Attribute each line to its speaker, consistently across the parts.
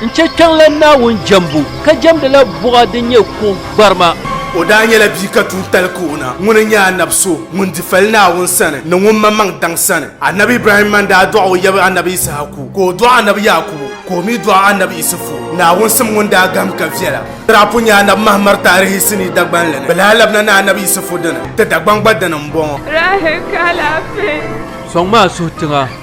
Speaker 1: N chɛ kpiɔŋ la Naawuni jɛmbu, ka jɛmdi la buɣa din nyɛ kuɣ gbarima. O daa nyɛla
Speaker 2: bia ka tuun tali Kaona ŋun n nyɛ Anab so ŋun di fali Naawuni sani ni ŋun maŋmaŋ daŋ sani. Anab Ibrahim man daa dɔɣi o yab Anab Ishaku, ka o dɔɣi Anab Yaakubu, ka o mi dɔɣi Anab Isufu, Naawuni sim ŋun daa gahim ka viɛla. Di daa pun nyɛ Anab Mahamar taarihi sinii dagbanli ni bɛ daa labina ni Anab Isufu dini, ti Dagbaŋ gba dini m-bɔŋɔ. Rahil ka
Speaker 3: alaafee. Sɔŋ maa
Speaker 1: suhitiŋa.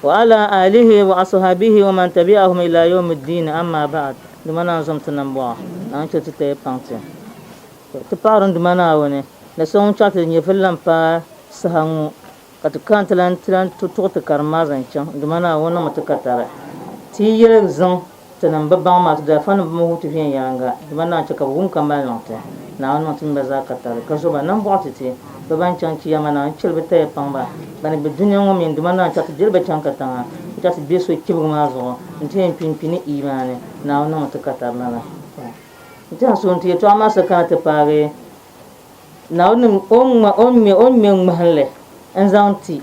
Speaker 4: Wa ala aalihi wa asuhabihi wa man tabi'ahum ila yawmi ddiini amma ba'd Duuma Naa zom ti nambɔɣu Naa ni chɛ ti taya paŋ ti. Tɔ! Ti paɣiri n Duuma Naawuni ni so ŋun chɛri ti di nyɛvili la m-paai saha ŋɔ ka ti kani ti lan tuɣi ti karim maa zaŋ chaŋ n Duuma Naawuni niŋmi ti ka tari ti yi yɛli ziŋ Tinim bi baŋ maa, ti daa fa ni bɛ mini wuhi ti viɛnyɛliŋga, dama naa chɛ ka bɛ wum ka maliŋ ti, Naawuni niŋ ti nima zaa ka tali, ka zo ba nambɔɣu ti ti bɛ bɛn chaŋ ti ya maa, Naawuni chɛli bɛ taya paŋ ba bɛn be dunia ŋɔ mi ni, dama naa chɛ ka ti diri ba chaŋ katiŋa, ka chɛ ka ti be so chibigu maa zuɣu n-ti yɛn kpi n-kpi ni iimaani, Naawuni niŋmi ti ka tari lala. N tɛha suhim ti yɛtɔɣa maa sa kana ti paagi Naawuni ni o ŋme ŋmahinli n-zaŋ ti.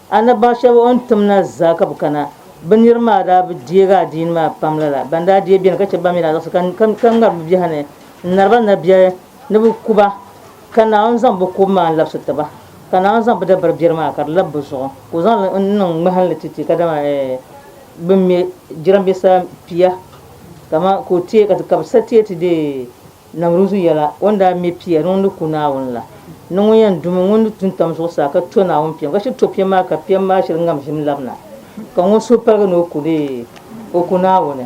Speaker 4: Annabaɣ shɛb o ni tim na zaa ka bɛ kana. Bɛ nir maa daa bi deeg adiini maa pam lala. Bɛn daa deei beni ka chɛ ban mi daa zaɣisi ka ŋari bɛ biɛhi ni n-nari ba nabiɛhi ni bɛ ku ba, ka Naawuni zaŋ bɛ kubu maa n-labisi ti ba. Ka Naawuni zaŋ bɛ dabari biɛri maa ka di lab bɛ zuɣu, ka o zaŋ li niŋ ŋmahinli ti ti kadama bɛn me jirambisa pia, kaman ka o teei ka bɛ sa teei ti deei. Namruuzu yɛla, O ni daa me pia ni o ni ku Naawuni la, ni ŋun yɛn dumi ŋun ni tun tam zuɣusaa ka to Naawuni piɛm, ka shiri to piɛm maa ka piɛm maa shiri ŋam ʒim labina, ka ŋun suhu paligi ni o ku li, o ku Naawuni,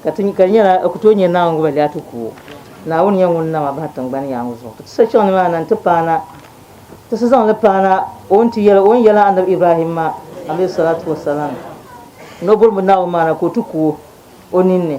Speaker 4: ka ti ka di nyɛla o ku tooi nyɛ Naawuni ŋun bi lɛhi ti ku o. Naawuni nyɛ ŋun nam a bahi tiŋgbani yaaŋa zuɣu, ka ti sa chaŋ nimaani na nti paana, ti sa zaŋ li paana o ni ti yɛli o ni yɛli Annabi Ibrahim maa, alaihis-salatu-was-salam, ni o bɔri mi Naawuni maa na ka o ti ku o o ninni.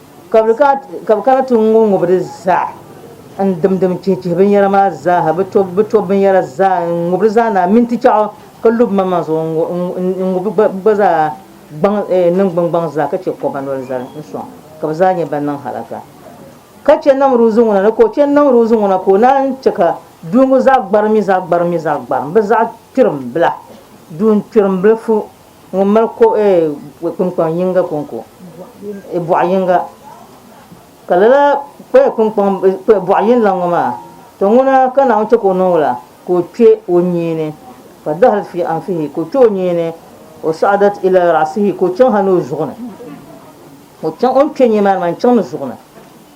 Speaker 4: Ka bɛ kana ti ŋubi ŋubi di zaa n-dimdim chihichihi binyɛra maa zaaha, bɛ to bɛ to binyɛra zaa n-ŋubi di zaa naai mintichɛɣu ka lo bimaŋmaŋ zuɣu n-ŋubi bɛ gba zaa gbaŋ niŋgbuŋgbaŋ zaa ka chɛ kɔba noli zali n-sɔŋ ka bɛ zaa nyɛ ban niŋ halaka. Ka chɛ Namruuzi ŋuna ni ka o chɛ Namruuzi ŋuna ka o naan chɛ ka duu ŋɔ zaa gbarim mi zaa gbarim mi zaa gbarim bɛ zaɣ kpirimbila, duun kpirimbili fu Ŋun mali ko ee kpunkpaŋ yinga konko e bɔɣu yinga ka lala ko ee kpunkpaŋ e bɔɣu yinlaŋ ŋɔ maa to ŋuna ka Naawuni che ka o niŋ la ka o kpe o nyiini fa dahrat fi anfihi ka o kpe o nyiini wa sa'adat ila ra'sihi ka o chaŋ ha ni o zuɣu ni o chaŋ o ni kpe nyini maa ni maa n chaŋ ni zuɣu ni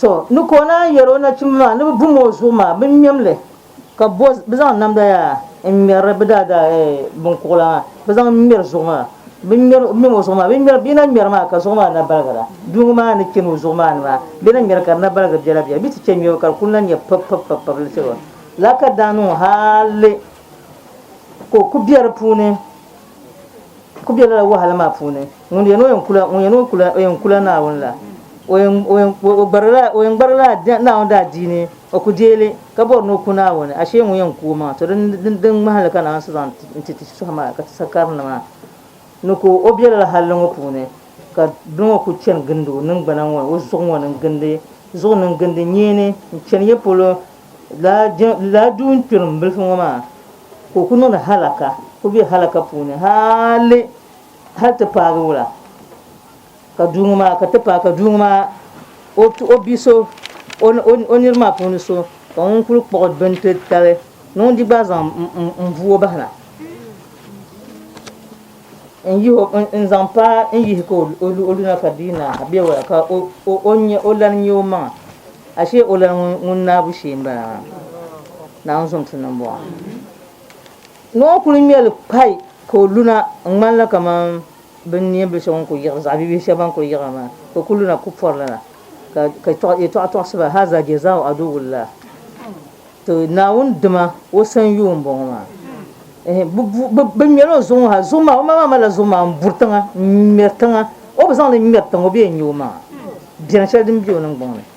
Speaker 4: Tɔ! Ni ka o naan yɛri o nachimba maa ni bɛ bum o zuɣu maa, bɛ ŋmɛm li, ka bo bɛ zaŋ namda yaa n-ŋmɛrili bɛ daadaaga binkuɣila maa, bɛ zaŋ ŋmɛri zuɣu maa. Bɛ ŋmɛm o zuɣu maa, bɛ yi na ŋmɛri maa ka zuɣu maa na baligira, bia ŋɔ maa ni chani o zuɣu maa ni maa, bɛ na ŋmɛri ka di na baligi biɛla biɛla, bɛ ti chɛ ŋmɛbu ka di kul na nya pipipipipib li chɛba. Lala ka daa niŋ hali ka o ku be di puuni, ku be lala wahala maa puuni. Ŋun yɛn kula Naawuni la, o yɛn gbarila Naawuni daadiini, o ku deei li, ka bɔri ni o ku Naawuni, ashee ŋun yɛn ku o maŋa, to din ŋmahi li ka Naawuni so zaŋ ti ti shitɔɣu maa ka ti sakarinima maa ni ka o be lala halli ŋɔ puuni, ka bini ŋɔ kul chani gindi o niŋgbana ŋɔ ni o zuɣu ŋɔ ni n-gindi zuɣu ni n-gindi nyeeni n-chani ya polo, lala duun kpirim bilifu ŋɔ maa ka o ku niŋdi halaka, o ku be halaka puuni haali. Hal ti paagi wula ka duu ŋɔ maa ka ti paai ka duu ŋɔ maa o bia so o niriba maa puuni so ka ŋun kuli kpuɣi bini ti tali ni ŋun di gba zaŋ m buo bahina n zaŋ paai n yihi ka o luna ka di yi naai ha be wula ka o lani nya o maŋa ashe o lani ŋun naabu shee m bala maa naawuni zuŋ ti niŋ buɣa. Noo kuli ŋmɛli kpai ka o luna ŋmanila kamani bin niɛ bili shɛba ŋun kuli yiɣiri, zaɣ bibihi shɛba ban kuli yiɣiri maa, ka o kuli luna kub pɔrili na, ka yɛtɔɣa tɔɣisi ba, Haza jazaau aduwullaah, Tɔ! Naawuni dima o sanyoo m-bɔŋɔ maa. Ɛhɛ! Bɛ ŋmɛla o zuɣu ŋɔ ha, zuɣu maa, o maŋmaŋ malila zuɣu maa m-buri tiŋa, m-ŋmɛri tiŋa. O bi zaŋ li ŋmɛri tiŋa, o bi yɛn nya omaŋa beni shɛli din be o niŋgbuŋ ni.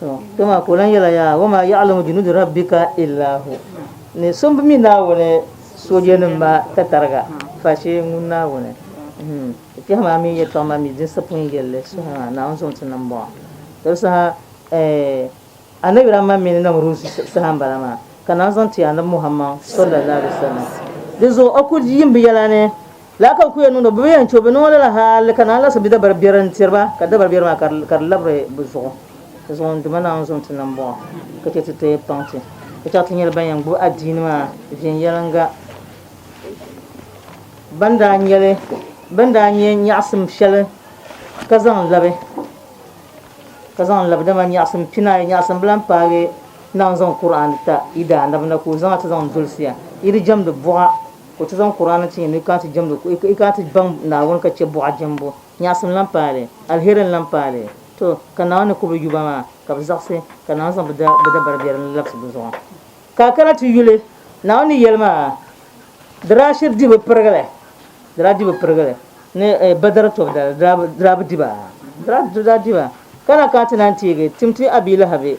Speaker 3: To,
Speaker 4: kpe maa ka o lan yɛla yaa, wa maa ya'lamu junuuda rabbika illa hu. Ni so m-bi mi Naawuni soojanim maa tatariga face ŋun Naawuni. Hum. Ti kpɛhi maa mi yɛtɔɣ maa mi din sapɔin yɛli li suhi maa, Naawuni zaŋ ti niŋ m-bɔŋɔ. Toli saha, eh, Annabi Rahman mi ni Namruuz saha m-bala maa, ka Naawuni zaŋ ti Annabi Muhammad, sallallaahu alayhi wa sallam. Di zuɣu o kul di yiŋ bɛ yɛla ni. Lala ka bɛ kul yen niŋdi o, bɛ bi yen che o, bɛ niŋ o lala hali ka naan laɣisi bi dabari biɛri n-tiri ba, ka dabari biɛri maa ka di ka di labiri bɛ zuɣu, ti zaŋ n Duuma Naawuni zaŋ ti ni m-bɔŋɔ, ka che ti ti paŋ ti, ka chaŋ ti nyɛla ban yɛn gbibi adiini maa viɛnyɛliŋga, ban daa nya li, bɛn daa nya nyaɣisim shɛli ka zaŋ labi, ka zaŋ labi, dama nyaɣisim pinayi, nyaɣisim bila m-paagi Naawuni zaŋ Kur'aani ta yi daanaba na ka o zaŋ a ti zaŋ dolsiya, yi di jɛmdi buɣa. Ka o ti zaŋ Kur'aana ti ya ni yi kana ti jɛmdi ka yi kana ti baŋ Naawuni ka chɛ buɣa jɛmbu. Nyaɣisim lan paai li, alheri n-lan paai li. Tɔ! Ka Naawuni ni ku bɛ yuba maa, ka bɛ zaɣisi, ka Naawuni zaŋ bɛ dabari biɛri ni labisi bɛ zuɣu. Ka a kana ti yuli Naawuni ni yɛli maa, Di daa shiri di bi pirigili, di daa di bi pirigili, ni Badr tɔbidali, di daa bi di ba, di daa di ba. Ka na kana ti naan teegi tim ti Abi Lahabi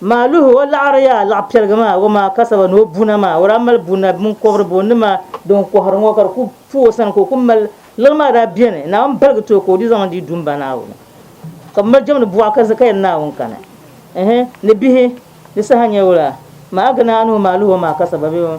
Speaker 4: Maaluhi o laɣiriya laɣipiɛligi maa o maa kasaba ni o buna maa o daa mali buna mini kɔbiri bo ni maa din kɔhiri ŋɔ ka di ku fu o sani ka o ku mali liɣi maa daa beni Naawuni baligi ti o ka o di zaŋ n-di du m-ba Naawuni ka bɛ mali jɛm ni buɣa ka zi ka yɛli Naawuni kani ɛhɛ ni bihi di saha nyɛvula maa a gina a nuhi maaluhi o maa kasaba bee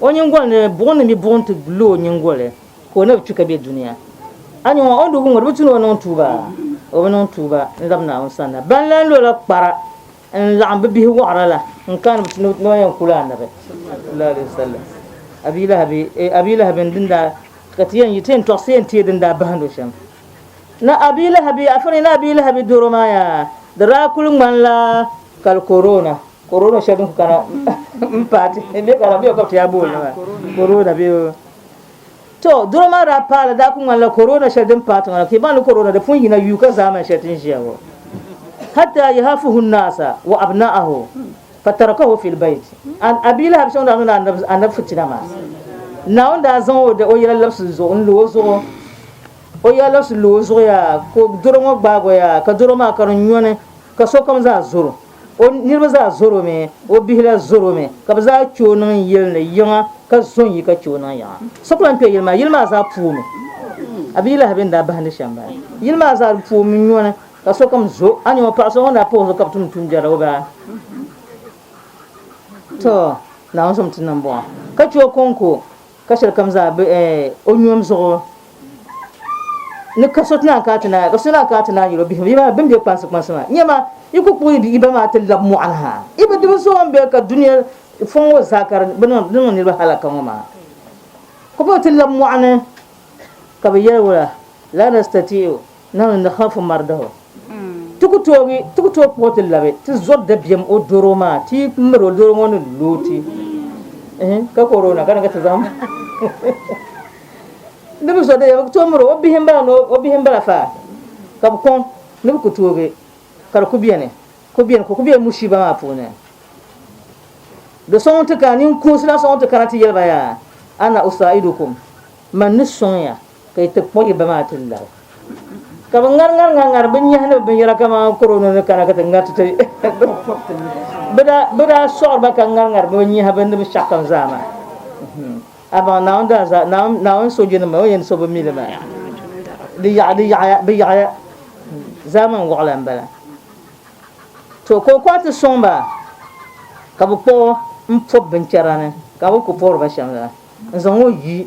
Speaker 4: O nyingoli ni buɣim ni mi buɣim ti lo o nyingoli ka o na bi kpi ka be dunia. A nya ŋɔ, o ni du ŋun di bi tu ni o niŋ tuuba? O bi niŋ tuuba n-lab Naawuni sanna. Ban lan lo la kpara n-laɣim bɛ bihi wɔɣira la n-kani bɛ ti ni o yɛn ku la Annabi, sallallahu alayhi wa sallam, Abii Lahabi, Abii Lahabi n din daa, ka ti yɛn yi, ti yɛn tɔɣisi yɛn teei din daa bahindi o shɛm. Na Abii Lahabi, afa ni na Abii Lahabi doro maa yaa, di daa kul ŋmanila kali korona. Corona shɛli din ku kana m-paati m-be ka la bee ka bɛ ti yaa booni maa corona bee o. To, doro maa daa paai li daa ku ŋmanila corona shɛli din paati ŋɔ la ka yi baŋ li corona di pun yina yuuka zaamani shɛli ti ni ʒiya ŋɔ. Hatta yahafuhu nnaasa wa abna'ahu fa tarakahu fil bayt and a bia lahabishaŋ daa niŋla Annabi Annabi fitina maa. Naawuni daa zaŋ o o yɛla labisi zuɣu n-lo o zuɣu o yɛla labisi lo o zuɣu yaa ka o doro ŋɔ gbaag o yaa ka doro maa ka di nyɔni ka sokam zaa zoro. O niriba zaa zɔr o mi, o bihi la zɔr o mi, ka bɛ zaa kpe o niŋ yili ni yiŋa, ka zo n-yi ka kpe o niŋ yiŋa. So ku lan kpe yili maa, yili maa zaa pu o mi. A bia lahi bɛn daa bahindi shɛm bala. Yili maa zaa di pu o mi nyɔni, ka sokam zo. A nya ŋɔ, paɣ so ŋun daa pahi o zuɣu ka bɛ tumdi tuumbiɛri la, o baa? Tɔ! Naawuni so mi ti niŋ bɔŋɔ, ka chɛ o kɔŋko. Ka shɛli kam zaa be o nyom zuɣu ni ka so ti naan kana ti naai ka so naan kana ti naai yɛl o bihi maa bɛn be kpansi kpansi maa, Nya ma, yi ku kpuɣi yi ba maa ti lab mɔɣu ni ha. Yi bi di bi so ŋun be ka dunia fɔŋ ŋɔ zaa ka di niŋ niriba halaka ŋɔ maa. Ka bɛ ti lab mɔɣu ni ka bɛ yɛli o la, Laa nastati'u. Naawuni ni hal fo mari daho. Ti ku toogi, ti ku tooi kpuɣi ti labi ti zɔri dabiɛm o doro maa ti yi miri o doro ŋɔ ni lo ti ka koroona ka ni ka ti zaŋ Di bi zɔri dabiɛm bi ku tooi miri o bihi m-bala ni o bihi m-bala fa ka bi kɔŋ ni bi ku toogi ka di ku beni ku beni ku ku be mushiiba maa puuni Do so ŋun ti kana ninkuunsi na so ŋun ti kana ti yɛli ba yaa ana usaidukum man ni sɔŋ ya Ka yi ti kpuɣi ba maa ti lari. Ka bɛ ŋari ŋari ŋari ŋari binyɛhi ni binyɛra kamani korono ni kana ka ti ŋari ti ti bɛ daa sɔɣiri ba ka ŋari ŋari bɛ nyɛhi bɛ nibi shɛɣu kam zaa maa. Amaa Naawuni daa za Naawuni soojanima maa o ni yɛn so bɛ mi li maa di yaɣiya bɛ yaɣiya zaamani waɣila m-bala. To ka o kɔŋ ti sɔŋ ba ka bɛ kpuɣi m-pɔbi binchɛra ni ka bɛ ku pɔri ba shɛm la n-zaŋ o yi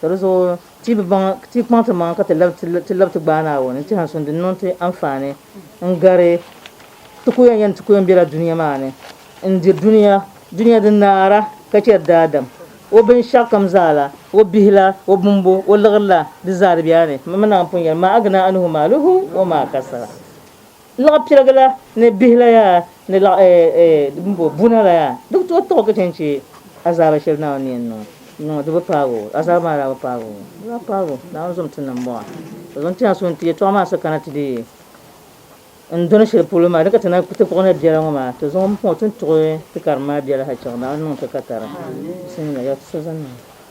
Speaker 4: Ka di zuɣu ti bi baŋ ti yi kpaŋ ti maŋa ka ti lab ti lab ti gbaai Naawuni n tɛha suŋ din niŋ ti anfaani n gari ti ku yɛn yɛn ti ku yɛn bela dunia maa ni n diri dunia dunia din naara ka cheri daadam o binshɛɣukam zaa la, o bihi la, o bumbu, o liɣiri la, di zaa di bɛla ni. Mimi naai pun yɛli, Maa aghnaa anhu maaluhu wa maa kasaba. Laɣ pirigi la ni bihi la yaa ni laɣ buna la yaa, di bi tooi tiɣ o ka chɛ n-chɛ azaaba shɛli Naawuni ni yɛn niŋ o. Di bi paag o. Azaaba maa daa bi paag o. Di daa paag o. Naawuni zom ti niŋ m-bɔŋɔ. O zaŋ ti a suhu nti yɛtɔɣ maa sa kana ti di n dɔni shɛli polo maa. Di ka ti na kpuɣi tapuɣi na biɛla ŋɔ maa, ti zaŋ o m-pɔŋ ti ni tuɣi ti karim maa biɛla ha chaŋ. Naawuni niŋ ti ka tara. Bisimila, ya ti so zani maa.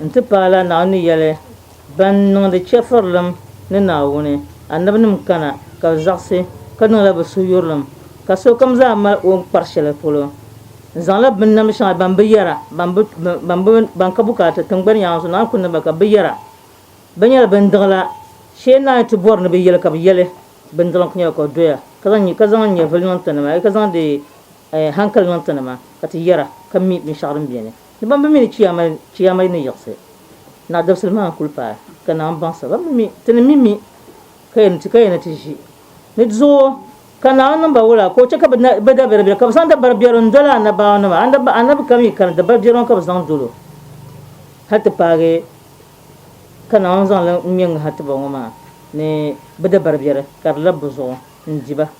Speaker 4: N-ti paai la Naawuni yɛli, Ban niŋdi chɛfurilim ni Naawuni anabinim kana ka bɛ zaɣisi, ka niŋla bɛ suhuyurilim, ka sokam zaa mali o ni kpari shɛli polo. N zaŋla binnamdi shɛŋa ban bi yɛra, ban ka bukaata tiŋgbani yaŋa zuɣu, Naawuni kul niŋ ba ka bɛ bi yɛra. Bɛ nyɛla bindiɣila. Shee naai ti bɔri ni bɛ yɛli ka bɛ yɛli, Bindiɣilim kul nyɛla ka o doya, ka zaŋ nyɛvili niŋ ti ni maa, ka zaŋdi hankali niŋ ti ni maa, ka ti yɛra, ka mi binshɛɣu din beni. Ni ban bi mi ni Chiyaama Chiyaama ni yiɣisi na dabisili maa n-kul paai, ka Naawuni baŋsi ba mi mi ti ni mi mi ka yɛn ka yɛn ni ti ʒi ni di zuɣu. Ka Naawuni niŋ ba wula, ka o chɛ ka bɛ bɛ dabiɛrbiɛri, ka bɛ zaŋ dabaribiɛri n-doli a annabaawunima, annab annabi kam yi kani, dabaribiɛri ŋɔ ka bɛ zaŋ dol o, hal ti paagi ka Naawuni zaŋ li ŋ-ŋme ŋ-ŋahi ti ba ŋɔ maa ni bɛ dabaribiɛri ka di lab bɛ zuɣu n-di ba.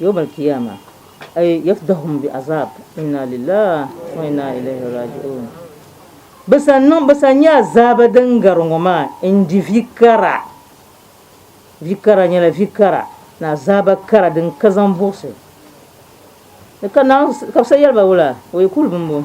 Speaker 4: Yawm al kiyama ay yafdahum bi azab inna lillaah wa inna ilayhi raji'uun Bɛ san niŋ bɛ san nyɛ azaaba din gari ŋɔ maa n di vi kara vi kara nyɛla vi kara ni azaaba kara din ka zaŋ buɣisi ni ka Naawuni ka bɛ san yɛli ba wula wa yakulu bimbo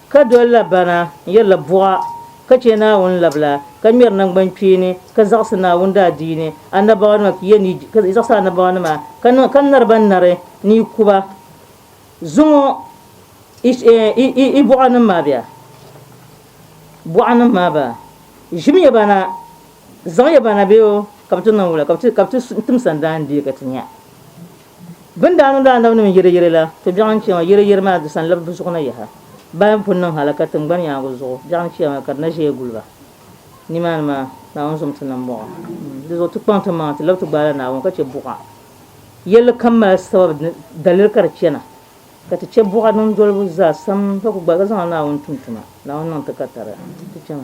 Speaker 4: Ka dolila bana n-yirila buɣa, ka chɛ Naawuni labila, ka ŋmɛri naŋgbankpeeni, ka zaɣisi Naawuni daadiini annabawanima ka yɛn yi, ka zaɣisi annabawanima ka niŋ, ka nari ba nari ni yi ku ba. Zuŋ o i, i buɣanim maa bɛ a, buɣanim maa bɛ a. Ʒim ya ba na, zaŋ ya ba na bɛ o, ka bɛ ti niŋ wula, ka bɛ ti, ka bɛ ti tim sandaandia ka ti nya. Bɛ ni daa niŋdi anabinim yiriyiri la, ti biɛɣu n-chɛ ma, yiriyiri maa di sanlib bɛ zuɣu na yaha. Bɛ ni pun niŋ halaka tiŋgbani yaaŋɔ zuɣu, biɛɣu n-chɛ ma ka di na ʒeya guli ba. Nimaani maa, Naawuni zom ti niŋ m-bɔŋɔ. Di zuɣu ti kpaŋ ti maŋa nti lab ti gbaai la Naawuni ka chɛ buɣa. Yɛlli kam mali sababu ni daliri ka di chana, ka ti chɛ buɣa niŋdolibu zaa sam ka ku gbaai ka zaŋ la Naawuni tum tuma. Naawuni niŋ ti ka tariga ti chana.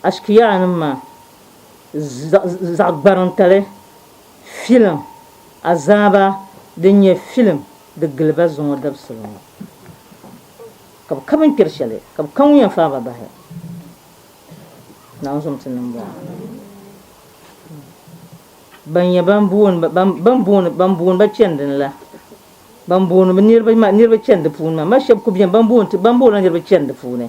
Speaker 4: Ashkiyanim maa, zaɣ'gbarintali filim azaaba din nyɛ filim di gili ba zuŋɔ dabisili ŋɔ, ka bɛ ka binkpɛri shɛli, ka bɛ ka ŋun yɛn faai ba bahi Naawuni zuŋɔ ti niŋbɔŋɔ, ban nyɛ ban booni ba chani dini la, ban booni niriba chani di puuni maa, ma shɛba kuli beni ban boonila niriba chani di puuni,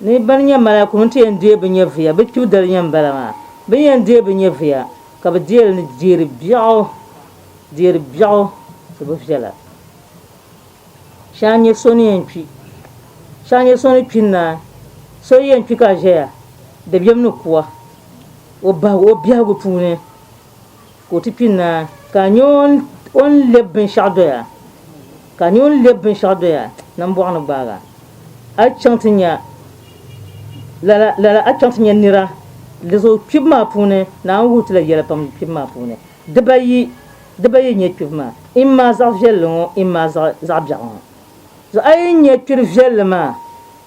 Speaker 4: Ni bɛ ni nya malaikum nti yɛn deei bɛ nyɛviya, bɛ kpibu dali yɛn m-bala maa. Bɛ ni yɛn deei bɛ nyɛviya, ka bɛ deei li ni deeri biɛɣu, deeri biɛɣu ti bi viɛla. Shɛŋa n-nyɛ so ni yɛn kpi. Shɛŋa n-nyɛ so ni kpi n-naai. So yi yɛn kpi ka ʒɛya, dabiɛm ni ku a o bahigu, o biɛhigu puuni. Ka o ti kpi naa, ka a nya o ni lɛb binshɛɣu doya, ka a nya o ni lɛb binshɛɣu doya ni m bɔɣu ni gbaag a, a chaŋ ti nya, lala, lala a chaŋ ti nya nira. Di zuɣu kpibu maa puuni, Naawuni wuhi ti la yɛla pam kpibu maa puuni. Dibayi, dibayi n-nyɛ kpibu maa, immaa zaɣ viɛlli ŋɔ, immaa zaɣ, zaɣ biɛɣu ŋɔ. Zuɣu a yi nya kpiri viɛlli maa,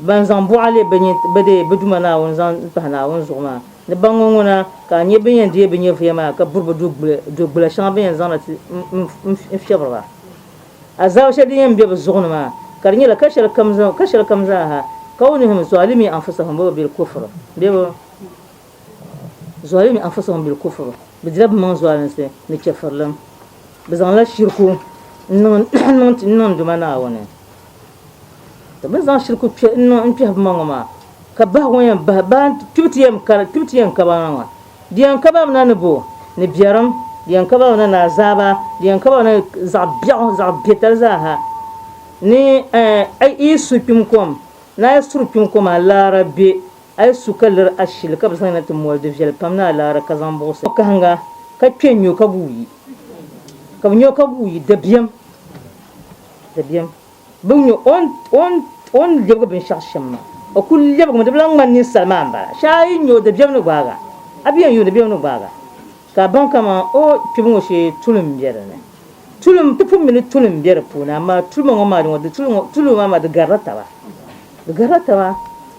Speaker 4: Ban zaŋ buɣa leei bɛ deei bɛ Duuma Naawuni zaŋ pahi Naawuni zuɣu maa ni baŋ ŋɔ ŋuna, ka a nya bɛ ni yɛn deei bɛ nyɛvuya maa ka buri bɛ dugbula shɛŋa bɛ ni yɛn zaŋ na ti n fiɛbiri ba azaaba shɛli din yɛn be bɛ zuɣu ni maa, ka di nyɛla ka shɛli kam zaa ha, kaunihim zɔɔlimii anfusahum bɛ bil kufri bee bɛ zɔɔlimii anfusahum bil kufri bɛ dila bɛmaŋ zɔɔlinsi ni chɛfurilim, bɛ zaŋla shiriku n niŋ n niŋ Duuma Naawuni. Ti bi zaŋ shiriku kpe n-niŋ n-kpɛhi buma ŋɔ maa, ka bahi ŋɔ yɛn bahi ba kpibu ti yɛn kari kpibu ti yɛn kaba ŋɔ maa. Di yɛn kabila mi na ni bɔ? Ni biɛrim, di yɛn kabila mi na ni azaaba, di yɛn kabila mi na zaɣ biɛɣu, zaɣ biɛtali zaa ha. Ni a yi su kpim kom, ni a yi suri kpim kom a laara be, a yi su ka liri ashili ka bɛ zaŋ yi na ti moli, di viɛli pam ni a laara ka zaŋ buɣisi. Kahiŋga ka kpe n-nyo ka guui, ka bi nyo ka guui, dabiɛm, dabiɛm. bi nyo o ni o ni o ni lebigi binshɛɣu shɛm maa o ku lebigimi di bi lahi ŋmani ninsal maa m-bala shee a yi nya o di bemi ni gbaaga a bi yɛn yuuni bemi ni gbaaga ka a baŋ kaman o kpibu ŋɔ shee tulim m-be di ni tulim ti pun mi ni tulim m-be di puuni amaa tulima ŋɔ maa di ŋɔ di tuli ŋɔ tulima maa di garila taba di garila taba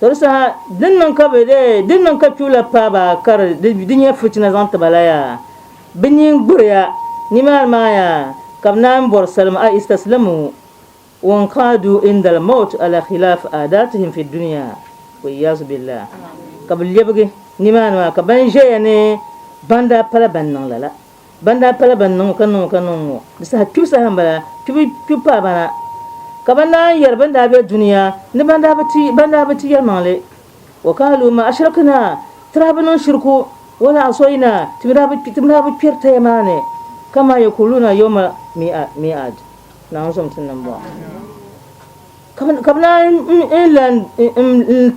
Speaker 3: Tɔbu saha
Speaker 4: din niŋ ka bɛ dee din niŋ ka kpibu la paai ba ka di di nyɛ fitina zaŋ ti ba la yaa, bɛ nyin gburi ya, nimaani maa yaa ka bɛ naan bɔri salim a istaslimu wanqaadu indal mawt ala khilaaf aadaatihim fi dunia waliyazu billah ka bɛ lɛbigi nimaani maa ka ban ʒeya ni ban daa pala ban niŋ lala. Ban daa pala ban niŋ o ka niŋ o ka niŋ ŋɔ, di saha kpibu saha m-bala, kpibu kpibu paai ba na. Ka ban daa yɛri ban daa be dunia ni ban daa bi ti, ban daa bi ti yɛlimaŋli, Wa kaaluu maa ashirikina, ti daa bi niŋ shiriku, Wa la asɔyina, ti mi daa bi, ti mi daa bi kpɛri taya maa ni, ka maa yakuuluuna yawma mi'a, mi'aad, Naa n-zom ti ni m-bɔŋɔ. Ka bɛ, ka bɛ naan yi lan, n, n, n,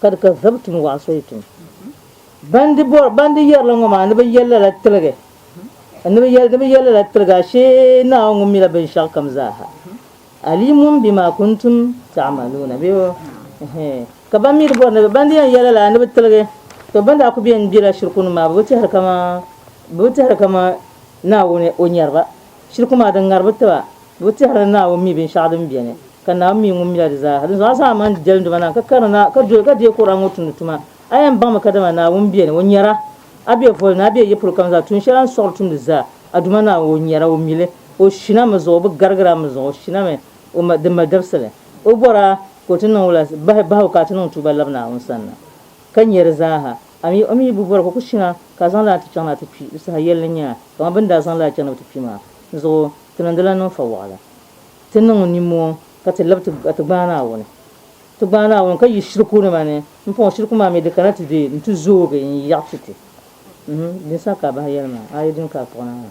Speaker 4: Ka di ka zabi tum waɣa so yi tum. Ban di bɔri, ban di yɛrila ŋɔ maa ni bɛ yɛli lala tiligi, ni bɛ yɛli ni bɛ yɛli lala tiligi, ashee Naawuni ŋun mila binshɛɣu kam zaa ha, alimun bima kuntum ta'maluuna bee wo, ɛhee, ka ban mi di bɔri ni bɛ, ban di yɛn yɛli lala ni bɛ tiligi, to ban daa kuli beni bela shirikunim maa bɛ bi tɛhiri kaman, bɛ bi tɛhiri kaman Naawuni o nyari ba. Shiriku maa, di ŋari bi tiba, bɛ bi tɛhiri ni Naawuni mi binshɛɣu din beni, ka Naawuni mi ŋun mila di zaaha. Dinzuɣu a zaŋ a maŋ jɛlinduma na n-ka karini na, ka doli ka deei Kur'an ŋɔ tumdi tuma. A yɛn baŋmi kadama Naawuni beni, O nyara, a be voli ni, a be yi polo kam zaa, tuun shɛli a ni suɣiri tumdi zaa, a Duuma Naawuni, O nyara, O mili, O shina mi zuɣu, o bi garigiri a mi zuɣu, o shina mi, O ma, din mali dabisili. O bɔri a ka o ti niŋ wula, bahi bahigu ka a ti niŋ tuuba labi Naawuni sanna, ka nyɛ di zaaha. A mi o mi yi bi bɔri ka o ku chana ka a zaŋ li a ni ti chaŋ ni a ti kpi di saha yɛli ni nya a, kaman bɛ ni daa zaŋ li a chaŋ ni bɛ ti kpi maa. Dinzuɣu ti niŋdila ninfa waɣila. Ti niŋ nimmɔhi ka ti lab ti ka ti gbaai Naawuni. Ti gbaai Naawuni ka yi shirikunima ni m-pɔŋ shiriku maa mi di kana ti be nti zoogi n-yaɣi ti ti. Uhum, din saha ka a bahi yɛli maa, a yi dini ka a kpuɣi Naawuni.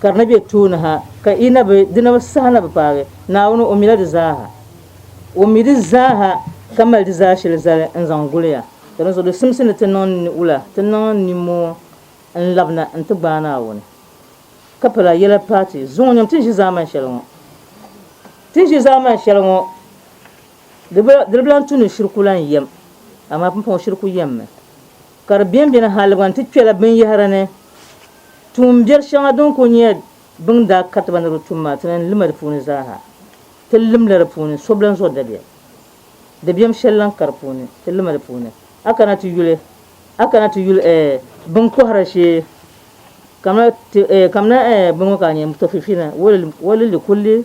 Speaker 4: Ka di ni be tooni ha, ka i na bi, di na bi saha na bi paagi, Naawuni o mila di zaaha. O mi di zaaha ka mali di zaa shɛli zali n-zaŋ guli ya. Ka dinzuɣu di simsi ni ti niŋ ni'ula, ti niŋ nimmoo n-labina n-ti gbaai Naawuni. Ka pala yɛla paai ti zuŋɔ nyam ti ni ʒi zaamani shɛli ŋɔ. Ti ni ʒi zaamani shɛli ŋɔ, di bi, di bi lan tu ni shiriku lan yɛm, amaa pumpɔŋɔ shiriku yɛmmi. Ka di bɛnbɛni haligiba nti kpɛla binyɛhiri ni. Tuun biɛri shɛŋa din kul nyɛ bɛ ni daa kariti ba ni di tum maa, ti lan lima di puuni zaaha. Ti limla di puuni so bilan zuɣu dabiɛm. Dabiɛm shɛli lan ka di puuni, ti lima di puuni. A kana ti yuli, a kana ti yuli ɛɛ bini kɔhira shee, kamina ti ɛɛ kamina ɛɛ bini ŋɔ ka a nya, Mutafifina, walilli kulli.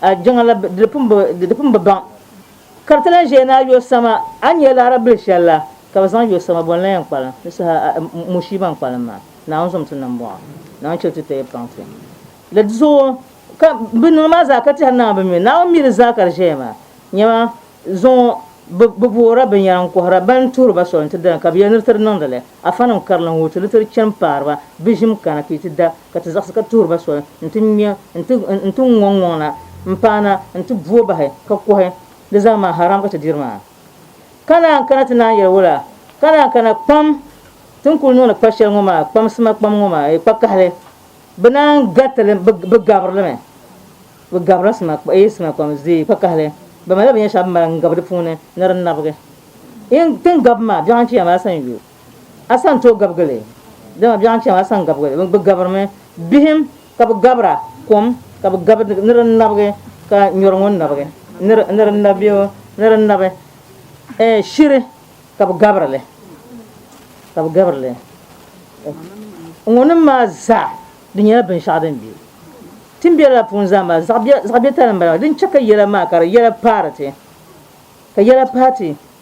Speaker 4: A jiŋa la di pun bi, di di pun bi baŋ ka di ti lan ʒeei ni a yo sama. A nya laɣiri bil shɛli la ka bɛ zaŋ yo sama bɔ n-lan yɛn kpa li? Di saha a, Mushii ban kpa li maa, Naawuni zom ti niŋ bɔŋɔ, Naawuni chɛli ti taya paŋ ti. La di zuɣu ka bɛ niŋ maa zaa ka tɛhiri Naawuni bɛ mi Naawuni mi di zaa ka di ʒeya maa. Nyama, zuŋɔ bɛ, bɛ voora binyɛra n-kɔhira ba n-tuhiri ba soli nti dali ka bɛ yɛli ni di ti di niŋdi li. Afanim karili n-wuhi ti di ti di chani paari ba bɛ ʒim kana ka yi ti da Ka ti zaɣisi ka tuhiri ba soli nti ŋme nti nti ŋɔŋ ŋɔŋ na m-paana nti bu o bahi ka kɔhi di zaa maa haram ka ti diri maa. Ka naan kana ti naan yɛli o la, Ka naan kana kpam ti ni kul niŋdi kpa shɛli ŋɔ maa, kpam sima kpam ŋɔ maa, kpa kahili, bɛ naan gariti li, bɛ gabiri li mi. Bɛ gabirila sima sima kpam zee kpa kahili, bɛ malila binyɛr shɛŋa bɛ mali n-gabi di puuni ni di nabigi. Yi ni gabi maa, biɛɣu n-chɛ ya maa, a san yuui. A san tooi gabigi li, dama biɛɣu n-chɛ ma a san gabigi li, bɛ gabirimi bihim ka bɛ gabira kom ka bɛ gabi ni di nabigi ka nyɔri ŋɔ nabigi ni di nabi bee ni di nabi ɛɛh shiri ka bɛ gabiri li ka bɛ gabiri li ŋɔnim maa zaa di nyɛla binshɛɣu din be ti ni be lala puuni zaa maa zaɣ biɛtali m-bala maa di ni chɛ ka yɛla maa ka di yɛla paari ti ka yɛla paai ti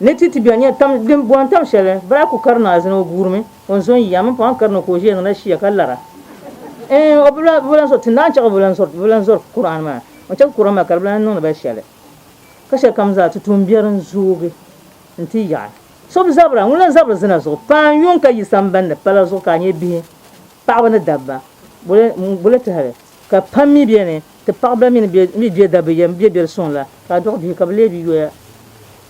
Speaker 4: Ni ti ti bɛ nya tam din bɔhim tam shɛli, bala ku kari ni azina o guurimi, o ni zo n-yi a mini pɔhim kari ni ka o ʒiya niŋdi ashia ka lara. Ɛɛn, o bi lan bi lan zɔri, ti naan chɛ ka o bi lan zɔri, bi lan zɔri Kur'an maa, o chɛ ka Kur'an maa ka di bi lan niŋdi ba shɛli. Ka shɛlikam zaa ti tooi biɛri n-zoogi nti yaɣi. So bi zabira, ŋun lan zabiri zina zuɣu, paanu yuŋ ka yi sambandi pala zuɣu ka a nyɛ bihi. Paɣaba ni dabba, boli tɛhili ka pam mi bɛ ni, ti paɣa ban mi ni bɛ gbe dabba yɛm bɛ bɛri suŋ la, ka a dɔɣi bihi ka bɛ lee bi yoya.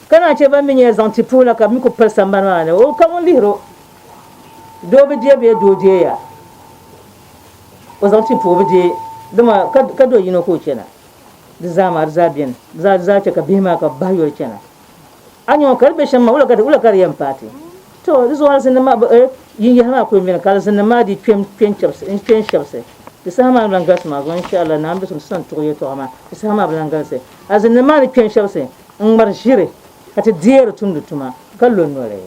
Speaker 4: Ka naan chɛ ban mi nyɛla zaŋ ti puhi la ka bɛ mi kul pali sambani maa ni, o ka ŋun lihir o doo bi deei bee doo deei a o zaŋ ti puhi o bi deei, dama ka do yino ka o chana. Di zaa maa di zaa bɛ ni, di zaa chɛ ka bihi maa ka bɛ bahi yoli chana. A nyɔŋ ka di be shɛm maa, wula ka di wula ka di yɛn paai ti? Tɔ! Di zuɣu alizinnim maa bɛ eh, yin yaha maa kul mini ka alizinnim maa dii kpe n-kpe n-chɛbisi, n-kpe n-shɛbisi. Di saha maa ni lan galisi maa zuɣu, in sha Allah, Naawuni biɛsim ti zaŋ tuɣi yɛltɔɣa maa, di saha maa bi lan galisi. Alizinnim maa ni kpe n-shɛbisi n-ŋmari ʒiri, ka ti deei di tumdi tuma, ka lo noli.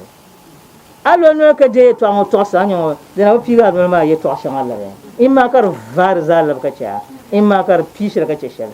Speaker 4: A lo noli ka deei yɛltɔɣa ŋɔ tɔɣisi, a nyɔŋ di na bi piigi a noli maa yɛltɔɣa shɛŋa labi. Imaa ka di vaai di zaa labi ka chɛ a, imaa ka di pii shɛli ka chɛ shɛli.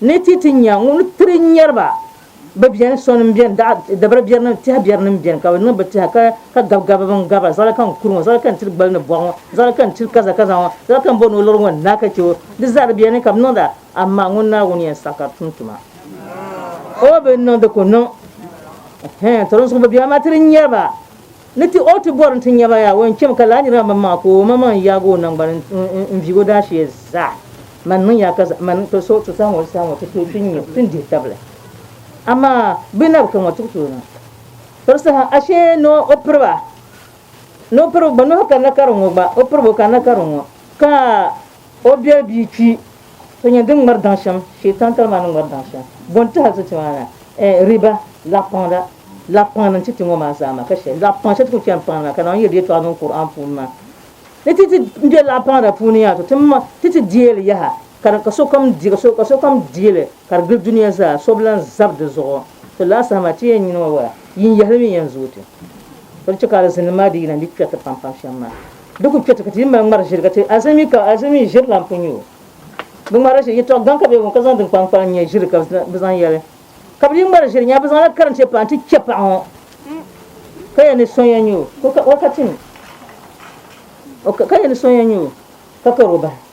Speaker 4: Ni ti ti nya ŋun tiri nyari ba bɛ beni, sɔnim beni, dabira berinim, tɛha berinim beni ka bɛ niŋ bɛ tɛha ka gabi gabibu n-gari ba, zaɣili ka n kuri ŋɔ, zaɣili ka n tiri gbali ni bɔɣu ŋɔ, zaɣili ka n tiri kaza kaza ŋɔ, zaɣili ka m bɔ ni o liri ŋɔ n-naai ka chɛ o. Di zaa di beni ka bɛ niŋda, amaa ŋun Naawuni yɛn saɣi ka di tum tuma, o bi niŋ di ku niŋ. Tɔrimsigu bɛ bemi a tiri nyari ba. Ni ti ɔɔ ti bɔri nti nyaba yaa o yɛn chɛmi ka laa niriba maa maŋmaŋa ka o omaŋmaŋ n-yaagi o naŋgbani n-viigi o daashee zaa. Man niŋ ya ka man ka so ti sahi ŋɔ saha ŋɔ ti tooi kpi n-nyɛ o ti ni dihi tabili. Amaa bɛ na bi ka ŋɔ ti ku tooi niŋ piri saha ashee ni o piri ba ni o piri ba gba ni o kanila karim ŋɔ gba o piri ba o kanila karim ŋɔ ka O bɛ bia kpi ti nyɛ din ŋmari daŋ shɛm, Shaitan tali maa ni ŋmari daŋ shɛm. Bɔ n-ti hal ti ti maa na? Eh, riba, laɣipaŋda, laɣipaŋ ni n-ti ti ŋɔ maa zaa maa ka shɛli, laɣipaŋ shɛli ti ku chani paŋdi maa ka Naawuni yɛli di yɛtɔɣa niŋ Kur'aan puuni maa. Ni ti ti be laɣipaŋda puuni yaa tɔ, ti ti deei li yaha ka ka sokam deei, ka so, ka sokam deei li ka di gili dunia zaa, so bi lan zab di zuɣu. To lala saha maa ti yɛn nyini o wala? Yin yɛhili mi yɛn zooi ti. Ka di chɛ ka alizinnim maa di yina n-di kpɛriti pampam shɛm maa. Di ku kpɛ ti ka ti yi mali ŋmari ʒiri ka ti azi mi ka azi mi ʒiri lan pun nyɛ o. Bi ŋmari ʒiri yɛtɔɣ gaŋ ka bɛ booni ka zaŋ din kpalim kpalim nyɛ ʒiri ka bɛ zaŋ yɛli. Ka bɛ yi ŋmari ʒiri nya bɛ zaŋla karinchɛ paɣa nti chɛ paɣa ŋɔ ka yɛli ni so yɛn nyɛ o ka kari o bahi.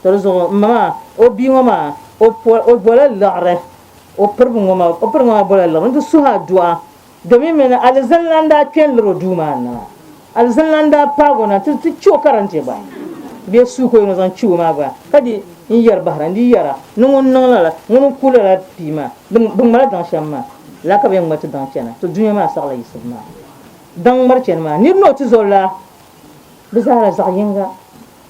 Speaker 4: Di di zuɣu m ma maa o bia ŋɔ maa o po o bola liɣiri o piribi ŋɔ maa o piribi ŋɔ maa bola liɣiri n ti suhi aduwa domin mi ni alizin lan daa kpe n liri o duu maa ni maa alizin lan daa paagi o na ti ti che o karante gba bee suu ka o yɛn o zaŋ che o maa gba ka di n yɛri bahira n di yɛra ni ŋun niŋ lala ŋun n ku lala pii maa di di ŋma la daŋ shɛm maa lala ka bɛ yɛn ŋma ti daŋ chana to dunia maa saɣila yiɣisibu maa daŋ ŋmari chani maa nir ni o tizɔri laa bɛ zaa la zaɣ yiŋga.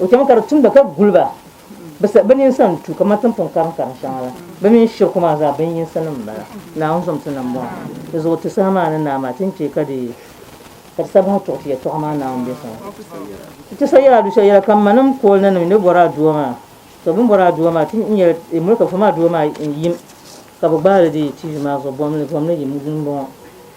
Speaker 4: O chɛmi ka di tumda ka guli ba, bɛ nini sa n-tu kaman timpɔŋ kariŋkariŋ shɛŋa la. Bɛ mini shiriku maa zaa binyinsinim m-bala, Naawuni zomsi ni m-bɔŋɔ. Di zuɣu ti saha maa ni naa maa, ti ni chɛ ka di sa bahi tuɣi ti yɛtɔɣa maa Naawuni biɛso ŋɔ. Ti ti sa yɛl a du'shɛli yɛla, Ka m ma ni m pool na ni bɛ bɔri a dua maa, tɔ bɛ ni bɔri a dua maa, ti ni yɛl ti mulika fɔ maa dua maa yim, ka bɛ gbaai li di TV maa zuɣu, bɔmli, bɔmli yim m-bɔŋɔ.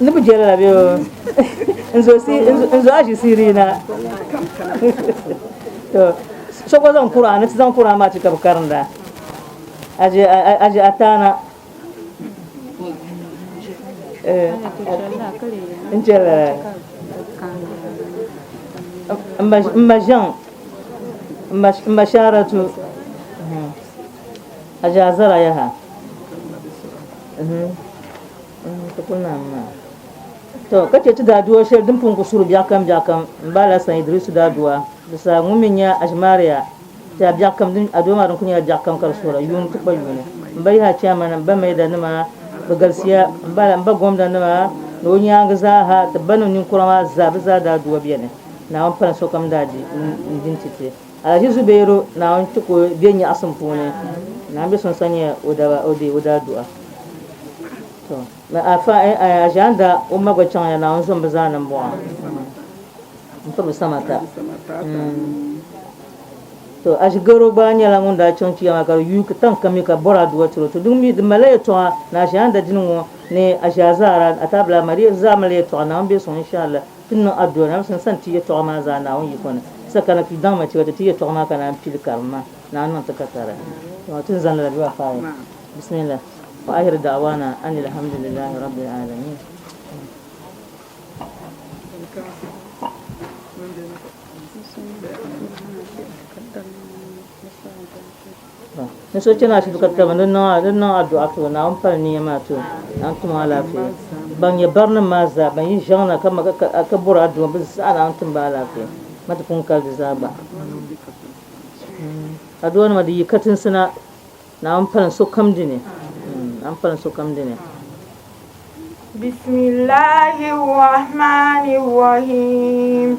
Speaker 4: Ni bi jɛli la bɛ o. N zo si n zo aji siri na. To so gba zaŋ kura ni ti zaŋ kura maa ti ka bi karinda. Aji aji atana. Eh n jɛli la. Mba mba zaŋ mba mba sharatu. A je a zara yaha. To, ka che ti daadua sheli din pun ku suri biɛɣukam biɛɣukam m-ba Alasan Idrisu daadua Bisaa ŋun mi nya Aʒimaariya tɛha biɛɣukam din a doo maa din kuli nyɛla biɛɣukam ka di suhira yuuni ti kpa yuuni. M-ba yaha Chairman, m-ba Maida nima bɛ galisiya m-bala, m-ba Gomda nima ni o nyaangi zaa ha ti ba ni ninkura maa zaa bɛ zaa daa dua beni. Naawuni pala sokam daa di n-di n-ti ti. Alhaji Zubairu Naawuni ti ku be nyaɣisim puuni Naawuni be sunsa nyɛ o daba o dee o daa duɣa to ni Alfa Aʒianda o ma gba chaŋya Naawuni zom bi zaa ni m-bɔŋɔ m-piri bi samata to Aʒigaro gba nyɛla ŋun daa chaŋ chiya maa ka di yuui tan ka mi ka bɔri aduwa tiri o to di mi di malila yɛltɔɣa ni Aʒianda dini ŋɔ ni Aʒiazaara Ataabila Maria di zaa malila yɛltɔɣa Naawuni be suŋ inshaAllah. Ti ni niŋ adua na, n sani ti yɛtɔɣa maa zaa Naawuni yiko ni. Sa ka na kpi daŋ ma ti ka ti ti yɛtɔɣa maa ka naan pili karim maa. Naawuni niŋ ti ka tara. Dama ti ni zaŋdi la dua faai. Bismillah. Wa ahiru da'wana anil hamdulillahi rabbil alamin. Ni so chani ashibiti ka taba ni di niŋ addu'a ti o Naawuni pali niya maa ti o Naawuni tim o alaafee. Ban nyɛ barinima maa zaa ban yi ʒiɛŋ na ka bɔri addu'a bɛ zaa Naawuni tim ba alaafee ma ti pun kali di zaa gba. Addu'anima di yi katinsi na Naawuni pali sokam di ni. Naawuni pali sokam di ni.
Speaker 5: Bisimillahi Rahmani Rahim.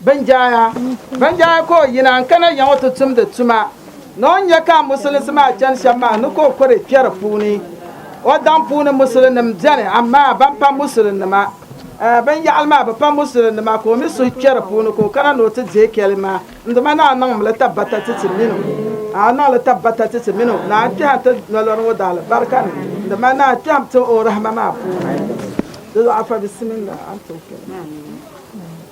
Speaker 6: Binjaya, Banjaya ka o yina n-kana ya ŋɔ ti tumdi tuma ni o ni nya ka amusulinsi maa chani shɛm maa ni ka o kuri kpe di puuni. O daŋ puuni musulinnim beni amaa ban pa musulinnima binyɛhili maa bi pa musulinnima ka o mi suhu kpe di puuni ka o kana ni o ti deei kɛli maa n-dima ni a niŋm li tabbata ti ti mini o a niŋ li tabbata ti ti mini o ni a kpɛhim ti nolɔri ŋɔ daalibarika ni dima ni a kpɛhim ti o rahima maa puuni.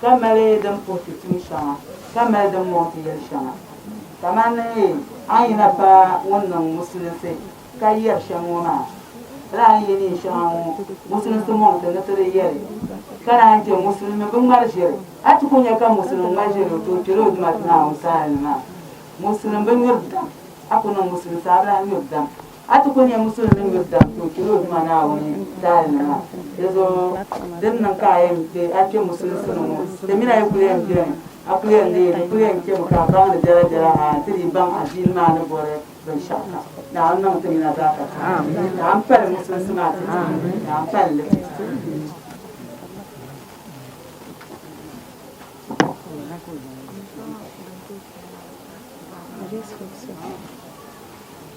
Speaker 4: ka mali din puhi ti tuun shɛŋa, ka mali din mɔŋ ti yɛli shɛŋa. Kamani a ni yina pa ŋun niŋ Musulinsi ka
Speaker 5: yɛri shɛm ŋɔ maa, lala a ni yɛ neen shɛŋa ŋɔ Musulinsi mɔŋ ti ni ti di yɛli, ka naan chɛ Musulimi bi ŋmari ʒiri. A ti ku nya ka Musulim ŋmari ʒiri o tooi kpɛri o dumatima a wumsaali ni maa, Musulim bi nyuri dam, a ku niŋ Musulinsi a bi lahi nyuri dam. A ti ku nya musulimi ni bi daŋ ti o chɛli o Duuma Naawuni daalinima, di zuɣu din niŋ ka a yɛn kpe a kpe musulinsi ni ŋɔ, di mini a yi kuli yɛn beni, a kuli yɛn leei di kuli yɛn kpemi ka a baŋdi biɛla biɛla ha nti dii baŋ adiini maa ni bɔri binshɛɣu kam. Naawuni niŋ ti nina zaa ka ka. Naawuni pali musulinsi maa ti ti ni. Naawuni pali li ti ti ni.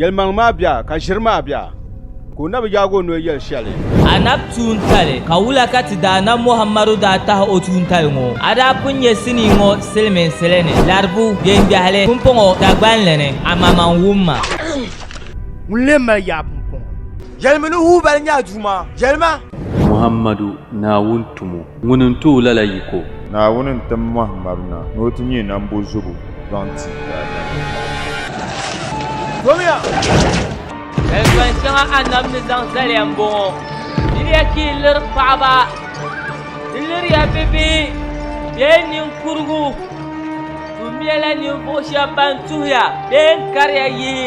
Speaker 2: Yɛlimaŋli maa bɛ a, ka ʒiri maa bɛ a, ka o na bi yaagi o noli yɛli shɛli. A na bi tuuntali,
Speaker 7: ka wula ka ti daana Muhammadu daa tahi o tuuntali ŋɔ? A daa pun nyɛ sinii ŋɔ siliminsili ni, Laribu, Gbengbɛhili, Pumpɔŋɔ, Dagbanli ni, amaman wumma.
Speaker 1: Ŋun lee mali yaa Pumpɔŋɔ? Yɛlimi ni
Speaker 8: Hubal nyɛ a Duuma, yɛlima! Muhammadu,
Speaker 1: Naawuni tumo. Ŋuni n-tooi lala yiko? Naawuni n-tim
Speaker 9: mɔhi mab na ni o ti nyɛ nambo zubu zaŋ ti daadam.
Speaker 7: Yɛltɔin shɛŋa Annabi ni zaŋ zaliya m-bɔŋɔ, Diriya ka yi liri paɣiba, di liriya bibihi bee niŋkurugu, tumiya la ninvuɣu shɛba ban tuhiya bee n-kariya yihi.